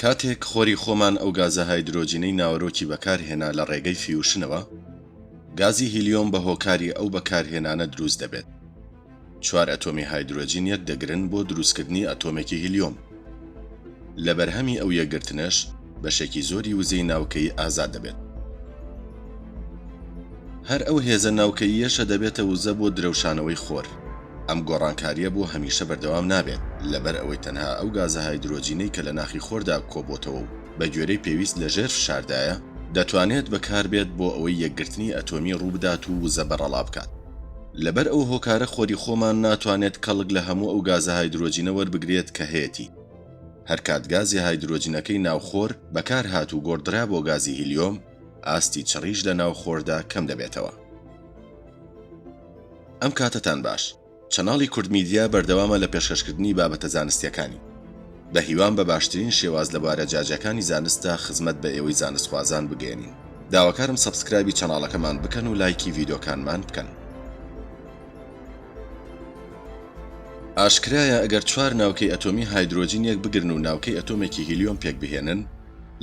کاتێک خۆری خۆمان ئەو گازە هایدرۆجینەی ناوەرۆکی بەکارهێنا لە ڕێگەی فیوشنەوە، گازی هیلیۆم بە هۆکاری ئەو بەکارهێنانە دروست دەبێت. چوار ئەتۆمی هایدرۆجین یەکدەگرن بۆ دروستکردنی ئەتۆمێکی هیلیۆم. لە بەرهەمی ئەو یەکگرتنەش بەشێکی زۆری وزەی ناوکەیی ئازاد دەبێت. هەر ئەو هێزە ناوکەییەشە دەبێتە وزە بۆ درەوشانەوەی خۆر. ئەم گۆڕانکارییە بۆ هەمیشە بەردەوام نابێت، لەبەر ئەوەی تەنها ئەو گازە هایدرۆجینەی کە لە ناخی خۆردا کۆبۆتەوە و بە گوێرەی پێویست لە ژێر فشاردایە، دەتوانێت بەکار بێت بۆ ئەوەی یەکگرتنی ئەتۆمی ڕوو بدات و وزە بەڕەڵا بکات. لەبەر ئەو هۆکارە خۆری خۆمان ناتوانێت کەڵک لە هەموو ئەو گازە هایدرۆجینە وەربگرێت کە هەیەتی. هەرکات گازی هایدرۆجنەکەی ناو خۆر بەکارهات و گۆڕدرا بۆ گازی هیلیۆم، ئاستی چڕیش لە ناو خۆردا کەم دەبێتەوە. ئەم کاتەتان باش. چەناڵی کوردمیدیا بەردەوامە لە پێشکەشکردنی بابەتە زانستیەکانی. بە هیوام بە باشترین شێواز لە بوارە جیاجیاکانی زانستدا خزمەت بە ئێوەی زانستخوازان بگەیەنین. داواکارم سەبسکرایبی چەناڵەکەمان بکەن و لایکی ڤیدۆکانمان بکەن. ئاشکرایە ئەگەر چوار ناوکەی ئەتۆمی هایدرۆجین یەک بگرن و ناوکەی ئەتۆمێکی هیلیۆم پێک بهێنن،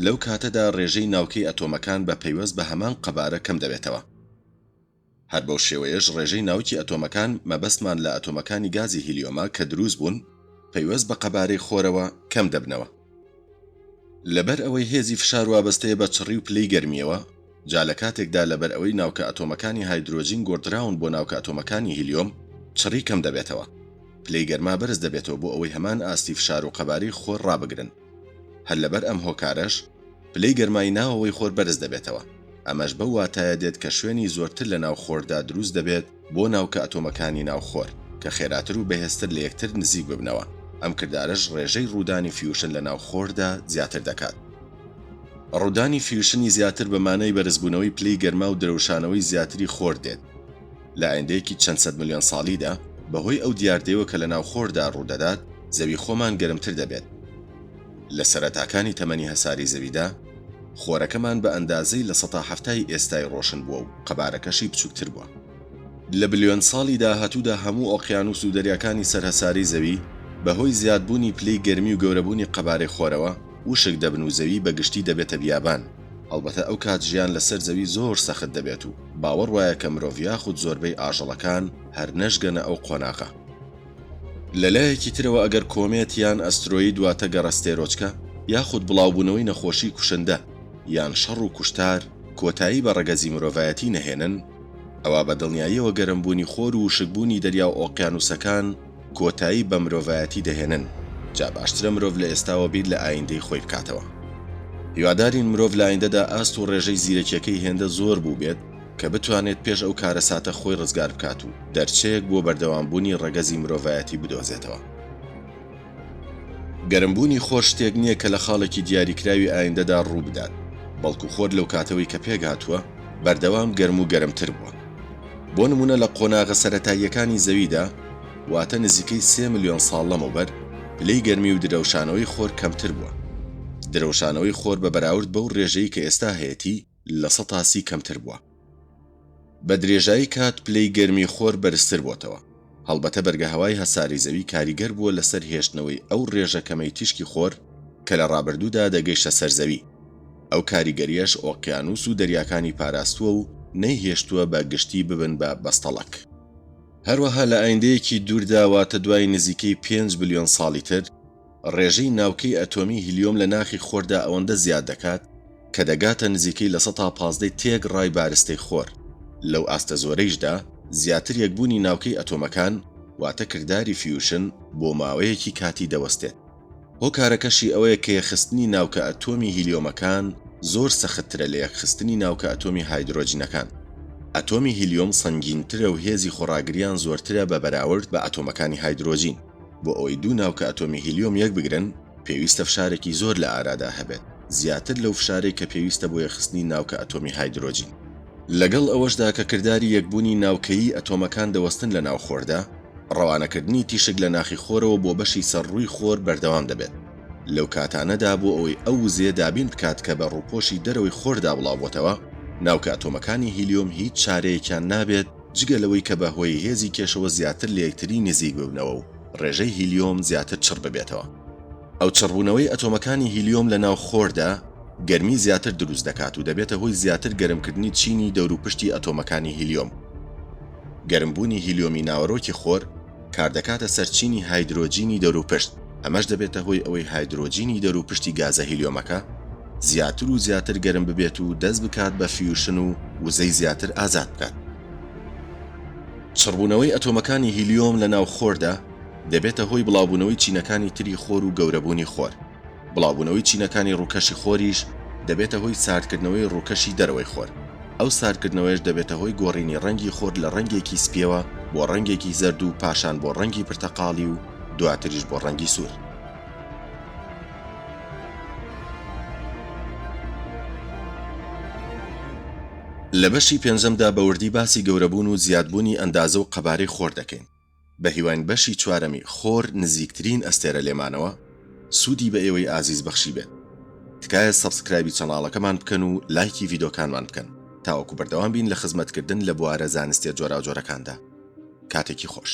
لەو کاتەدا ڕێژەی ناوکەی ئەتۆمەکان بە پەیوەست بە هەمان قەبارە کەم دەبێتەوە. هەر بەو شێوەیەش ڕێژەی ناوکی ئەتۆمەکان، مەبەستمان لە ئەتۆمەکانی گازی هیلیۆمە کە دروست بوون، پەیوەست بە قەبارەی خۆرەوە، کەم دەبنەوە. لەبەر ئەوەی هێزی فشار وابەستەیە بە چڕی و پلەی گەرمییەوە، جا لە کاتێکدا لەبەر ئەوەی ناوکە ئەتۆمەکانی هایدرۆجین گۆڕدراون بۆ ناوکە ئەتۆمەکانی هیلیۆم، چڕی کەم دەبێتەوە. پلەی گەرما بەرز دەبێتەوە بۆ ئەوەی هەمان ئاستی فشار و قەبارەی خۆر ڕابگرن. هەر لەبەر ئەم هۆکارەش پلەی گەرمای ناوەوەی خۆر بەرز دەبێتەوە. ئەمەش بەو واتایە دێت کە شوێنی زۆرتر لەناو خۆردا دروست دەبێت، بۆ ناوکە ئەتۆمەکانی ناو خۆر کە خێراتر و بەهێزتر لە یەکتر نزیک ببنەوە، ئەم کردارەش ڕێژەی ڕوودانی فیوشن لە ناو خۆردا زیاتر دەکات. ڕوودانی فیوشنی زیاتر بە مانای بەرزبوونەوەی پلەی گەرما و درەوشانەوەی زیاتری خۆر دێت لە ئایندەیەکی چەند سەد ملیۆن ساڵیدا، بەهۆی ئەو دیاردەیەوە کە لە ناو خۆردا ڕوودەدات، زەوی خۆمان گەرمتر دەبێت. لە سەرەتاکانی تەمەنی هەساری زەویدا، خۆرەکەمان بە ئەندازەی لە سەتا حەفتای ئێستای ڕۆشن بووە و قەبارەکەشی بچووکتر بووە. لە بلیۆن ساڵی داهاتوودا هەموو ئۆقیانووس و دەریاکانی سەر هەساری زەوی بە هۆی زیادبوونی پلەی گەرمی و گەورەبوونی قەبارەی خۆرەوە وشک دەبن و زەوی بە گشتی دەبێتە بیابان، هەڵبەتە ئەو کات ژیان لە سەر زەوی زۆر سەخت دەبێت و باوەڕ وایە کە مرۆڤ یاخود زۆربەی ئاژەڵەکان هەر نەشگەنە ئەو قۆناغە. لە لایەکی ترەوە ئەگەر کۆمێت یان ئەسترۆید واتە گەڕەستێرۆچکە یاخود بڵاوبوونەوەی نەخۆشی کوشندە یان شەڕ و کوشتار کۆتایی بە ڕەگەزی مرۆڤایەتی نەهێنن ئەوا بە دڵنیاییەوە گەرمبوونی خۆر و وشکبوونی دەریا و ئۆقیانووسەکان کۆتایی بە مرۆڤایەتی دەهێنن جا باشترە مرۆڤ لە ئێستاوە بیر لە ئاییندەی خۆی بکاتەوە. هیوادارین مرۆڤ لە ئاییندەدا ئاست و ڕێژەی زیرەکیەکەی هێندە زۆر بووبێت، کە بتوانێت پێش ئەو کارەساتە خۆی ڕزگار بکات و دەرچەیەک بۆ بەردەوامبوونی ڕەگەزی مرۆڤایەتی بدۆزێتەوە. گەرمبوونی خۆر شتێک نییە کە لە خاڵێکی دیاریکراوی ئایندەدا ڕووبدات، بەڵکو خۆر لەو کاتەوەی کە پێکهاتووە، بەردەوام گەرم و گەرمتر بووە. بۆ نموونە لە قۆناغە سەرەتاییەکانی زەویدا، واتە نزیکەی سێ ملیۆن ساڵ لەمەوبەر، پلەی گەرمی و درەوشانەوەی خۆر کەمتر بووە. درەوشانەوەی خۆر بە بەراورد بەو ڕێژەی کە ئێستا هەیەتی، لە سەتا سی کەمتر بووە. بە درێژایی کات پلەی گەرمی خۆر بەرزتر بۆتەوە. هەڵبەتە بەرگەهەوای هەسارەی زەوی کاریگەر بووە لەسەر هێشتنەوەی ئەو رێژە کەمەی تیشکی خۆر کە لە رابردوودا دەگەیشتە سەر زەوی. ئەو کاریگەریەش ئۆقیانوس و دەریاکانی پاراستووە و نەیهێشتووە بە گشتی ببن بە بەستەڵەک. هەروەها لە ئایندەیەکی دووردا واتە دوای نزیکەی پێنج بلیۆن ساڵی تر، ڕێژەی ناوکەی ئەتۆمی هیلیۆم لە ناخی خۆردا ئەوەندە زیاد دەکات کە دەگاتە نزیکەی لە سەتا پازدەی تێک ڕای بارستەی خۆر، لەو ئاستە زۆرەیشدا زیاتر یەکبوونی ناوکەی ئەتۆمەکان واتە کرداری فیوشن بۆ ماوەیەکی کاتی دەوەستێت. هۆکارەکەشی ئەوەیە کە یەکخستنی ناوکە ئەتۆمی هیلیۆمەکان زۆر سەختترە لە یەکخستنی ناوکە ئەتۆمی هایدرۆجنەکان. ئەتۆمی هیلیۆم سەنگینترە و هێزی خۆڕاگریان زۆرترە بە بەراورد بە ئەتۆمەکانی هایدرۆجین. بۆ ئەوەی دوو ناوکە ئەتۆمی هیلیۆم یەک بگرن، پێویستە فشارێکی زۆر لە ئارادا هەبێت، زیاتر لەو فشارەی کە پێویستە بۆ یەکخستنی ناوکە ئەتۆمی هایدرۆجین. لەگەڵ ئەوەشدا کە کرداری یەکبوونی ناوکەیی ئەتۆمەکان دەوەستن لە ناو خۆردا، ڕەوانەکردنی تیشک لە ناخی خۆرەوە بۆ بەشی سەر ڕووی خۆر بەردەوام دەبێت لەو کاتانەدا بۆ ئەوەی ئەو وزەیە دابین بکات کە بە ڕووپۆشی دەرەوەی خۆردا بڵاوبۆتەوە، ناوکە ئەتۆمەکانی هیلیۆم هیچ چارەیەکیان نابێت، جگە لەوەی کە بەهۆی هێزی کێشەوە زیاتر لە یەکتری نزیک ببنەوە و ڕێژەی هیلیۆم زیاتر چڕ ببێتەوە. ئەو چڕبوونەوەی ئەتۆمەکانی هیلیۆم لە ناو خۆردا گەرمی زیاتر دروست دەکات و دەبێتە هۆی زیاتر گەرمکردنی چینی دەوروپشتی ئەتۆمەکانی هیلیۆم. گەرمبوونی هیلیۆمی ناوەرۆکی خۆر، کاردەکاتە سەر چینی هایدرۆجینی دەوروپشت، ئەمەش دەبێتە هۆی ئەوەی هایدرۆجینی دەوروپشتی گازە هیلیۆمەکە زیاتر و زیاتر گەرم ببێت و دەست بکات بە فیوشن و وزەی زیاتر ئازاد بکات. چڕبوونەوەی ئەتۆمەکانی هیلیۆم لە ناو خۆردا، دەبێتە هۆی بڵاوبوونەوەی چینەکانی تری خۆر و گەورەبوونی خۆر. بڵاوبوونەوەی چینەکانی ڕووکەشی خۆریش دەبێتە هۆی ساردکردنەوەی ڕووکەشی دەرەوەی خۆر، ئەو ساردکردنەوەیەش دەبێتە هۆی گۆڕینی ڕەنگی خۆر لە ڕەنگێکی سپییەوە بۆ ڕەنگێکی زەرد و پاشان بۆ ڕەنگی پرتەقاڵی و دواتریش بۆ ڕەنگی سوور. لە بەشی پێنجەمدا بە وردی باسی گەورەبوون و زیادبوونی ئەندازە و قەبارەی خۆر دەکەین. بەهیواین بەشی چوارەمی خۆر نزیکترین ئەستێرە لێمانەوە سودی بە ئێوەی ئازیز بەخشیبێت تکایە سەبسکرایبی چەناڵەکەمان بکەن و لایکی ڤیدۆکانمان بکەن تاوەکو بەردەوام بین لە خزمەت کردن لە بوارە زانستیە جۆراوجۆرەکاندا کاتێکی خۆش.